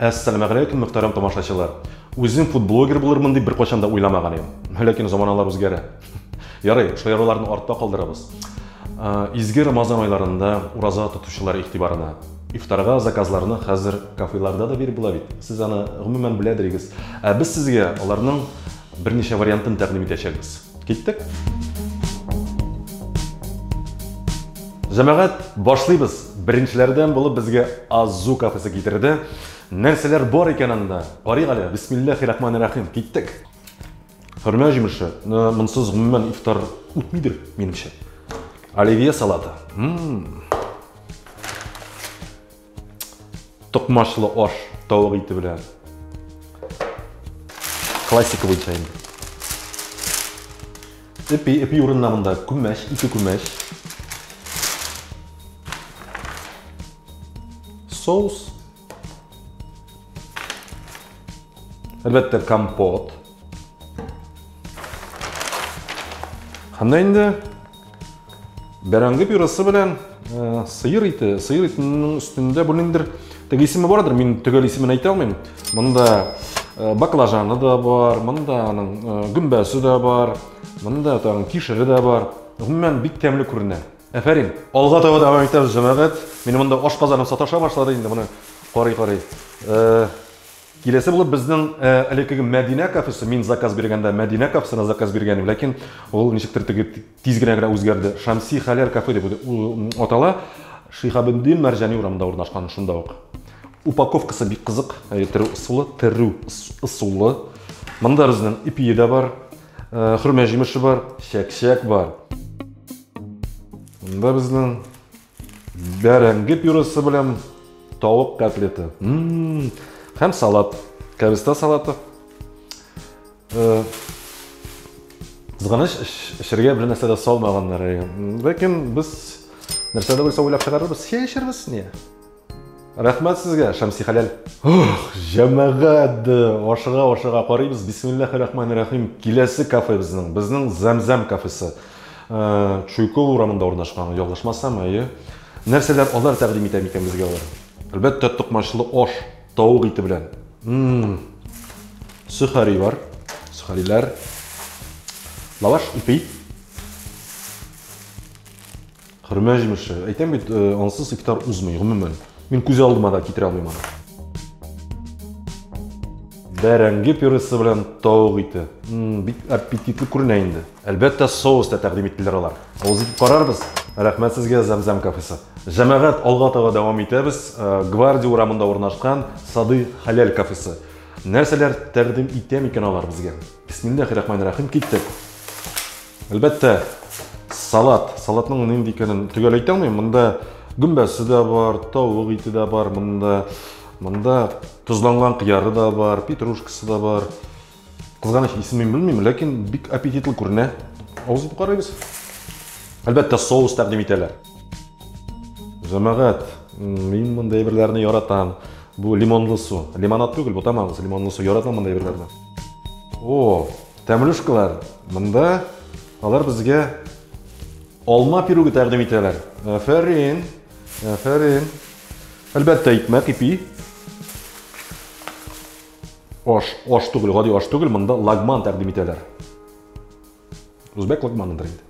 Әссәламәгәләйкүм, мөхтәрәм тамашачылар! Үзем фудблогер булырмын дип беркайчан да уйламаган идем. Ләкин заманалар үзгәрә. Ярый, шаяруларны артта калдырабыз. Изге Рамазан айларында ураза тотучылар игътибарына. Ифтарга заказларны хәзер кафеларда да биреп була бит. Сез аны, гомумән, беләдерегез. Ә без сезгә аларның Берничә вариантын тәкъдим итәчәкбез. Киттек! Җәмәгать, башлыйбыз! Беренчеләрдән булып безгә Азу кафесы китерде. Нәрсәләр бар икән анда? Карыйк әле, бисмилләхи рахмани рәхим, киттек! Хөрмә җимеше, монсыз гомумән ифтар үтмидер, минемчә. Оливье салаты. М-м-м! Токмачлы аш тавык ите белән. Классика буенча инде. Эпи, эпи урынына монда күмәч, ике күмәч. Соус. Әлбәттә, компот. Һәм дә инде бәрәңге пюрасы белән э, сыйыр ите, сыйыр итенең өстендә бу ниндер теге исеме бардыр, мин төгәл исемен әйтә алмыйм. Монда э, баклажаны да бар, монда аның э, гөмбәсе дә бар, монда тагын кишере дә бар. Гомумән бик тәмле күренә. Әфәрин. Алга таба дәвам итәбез, җәмәгать. Мин монда аш казаным саташа башлады инде, моны карый-карый. Э, Киләсе булып безнең элеккеге Мәдинә кафесы, мин заказ биргәндә Мәдинә кафесына заказ биргән идем, ләкин ул ничектер теге тиз генә генә үзгәрде. Шәмси Хәләл кафе дип атала. Шиһабетдин Мәрҗани урамында урнашкан, шунда ук. Упаковкасы бик кызык, терү ысулы, терү ысулы. Монда безнең ипие дә бар, хөрмә җимеше бар, чәк-чәк бар. Монда безнең Бәрәңге пюрысы белән тавык котлеты. Һәм салат. Кәрестә салаты. Э, Зганыш эчергә бер нәрсә дә салмаганнар. Ләкин без нәрсә дә булса уйлап чыгарырбыз. Чәй эчербез не? Рәхмәт сезгә, Шәмси хәләл. Ох, җәмәгать! Ашыга-ашыга карыйбыз. Бисмиллахи рахмани рахим. Киләсе кафебезнең, безнең Зәмзәм кафесы. Чуйкова урамында урнашкан, ялгышмасам, әйе. Нәрсәләр алар тәкъдим итә микән безгә алар? Әлбәттә, токмачлы аш, тавык ите белән. Сөхари бар, сөхариләр. Лаваш, ипи. Хөрмә җимеше. Әйтәм бит, э, ансыз ифтар узмый, гомумән. Мин күз алдыма да китерә алмыйм аны. Бәрәңге пюресе белән тавык ите. М, Бик аппетитлы күренә инде. Әлбәттә, соус та тәкъдим иттеләр алар. Авыз итеп карарбыз. Рәхмәт сезгә, Зәмзәм кафесы. Җәмәгать, алга таба дәвам итәбез. Э, Гвардия урамында урнашкан Сады хәләл кафесы. Нәрсәләр тәкъдим итә микән алар безгә? Бисмиллахи рахмани рахим, киттек. Әлбәттә, салат. Салатның нинди икәнен төгәл әйтә алмыйм. Монда гөмбәсе дә бар, тавык ите дә бар монда. Монда тозланган кыяры да бар, петрушкасы да бар. Кызганыч исемен белмим, ләкин бик аппетитлы күренә. Авыз итеп карыйбыз. Әлбәттә, соус тәкъдим итәләр. Җәмәгать, мин монда әйберләрне яратам. Бу лимонлы су. Лимонад түгел, бу тамагыз, лимонлы су. Яратам монда әйберләрне. О, Тәмлюшкалар монда. Алар безгә алма пиругы тәкъдим итәләр. Афәрин. Афәрин. Әлбәттә, икмәк ипи. Аш, аш түгел, гади аш түгел, монда лагман тәкъдим итәләр. Үзбәк лагманыдыр инде.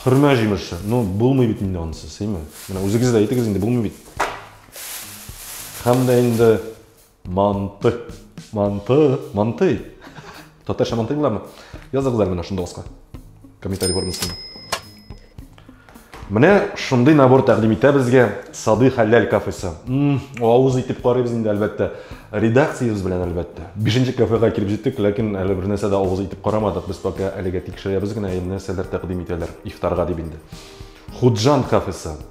Хөрмә җимеше. Ну, булмый бит инде анысы, сыймы? Менә үзегез дә әйтегез инде, булмый бит. Һәм дә инде Манты. Манты. Мантый. Татарча мантый буламы? Языгыз әле менә шунда аска. Комментарий формасында. Менә шундый набор тәкъдим итә безгә Сады хәлләл кафесы. Авыз итеп карыйбыз инде әлбәттә. Редакциябез белән әлбәттә. Бишенче кафега килеп җиттек, ләкин әле бер нәрсә дә авыз итеп карамадык. Без пока әлегә тикшерәбез генә, нәрсәләр тәкъдим итәләр ифтарга дип инде. Худжан кафесы.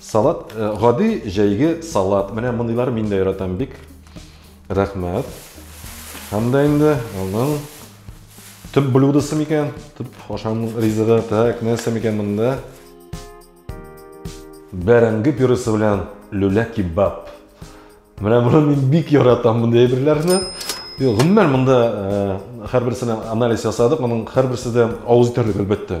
Салат, гади җәйге салат. Менә мондыйлар мин дә яратам бик. Рәхмәт. Һәм дә инде аның төп блюдосы микән? Төп ашам ризыгы. Так, нәрсә микән монда? Бәрәңге пюресе белән люля кебаб. Менә моны мин бик яратам мондый әйберләрне. Гомумән монда һәрберсенә анализ ясадык, моның һәрберсе дә авыз итәрлек әлбәттә.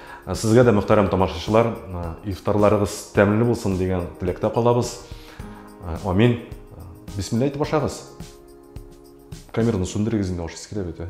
Сезгә дә, мөхтәрәм тамашачылар, ифтарларыгыз тәмле булсын дигән теләктә калабыз. Амин. Бисмилла әйтеп ашагыз. Камераны сүндерегез инде, ашыгыз килә бит, ә?